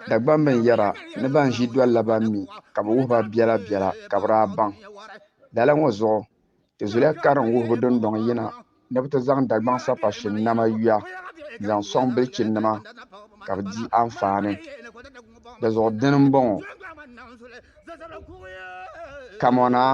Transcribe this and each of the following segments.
Dagbam bɛn yɛra ni ban ʒi doli la ban mi ka bɛ wuhi ba biɛla biɛla ka bɛ daa baŋ. Lala ŋɔ zuɣu ti zuliya karim wuhibu dindɔŋ yina ni bɛ ti zaŋ Dagbaŋ sapashin nama yuya n-zaŋ sɔŋ bilichinima ka bɛ di anfaani di zuɣu dini m-bɔŋɔ, Kamɔnaa!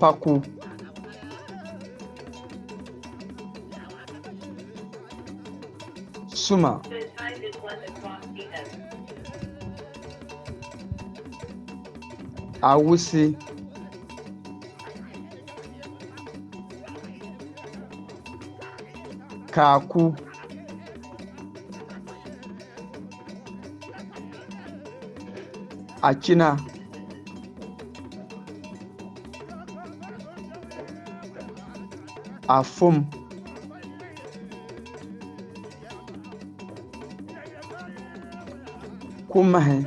paku. Suma. Awusi. Kaaku. achina afum kumahi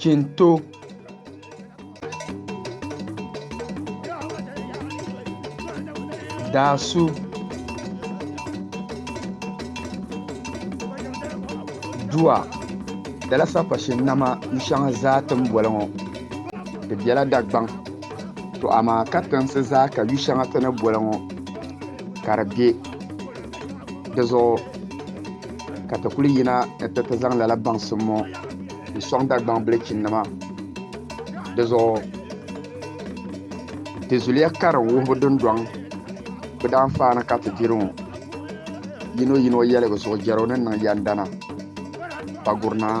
Chinto Dasu Dua dala sakpashi nama n shɛŋa zaa ti ni boli ŋɔ di bela Dagbaŋ to amaa katiŋsi zaa ka yu'shɛŋa ti ni boli ŋɔ ka di be. Di zuɣu ka ti kuli yina ni ti ti zaŋ lala baŋsim ŋɔ n-sɔŋ Dagbaŋ bilichinima. Di zuɣu di zuliya kari wuhibu dundɔŋ bɛ daanfaani ka ti diri ŋɔ. Yinoyino yɛligu zuɣu jɛro ni niŋ yɛndana Paguri Naa.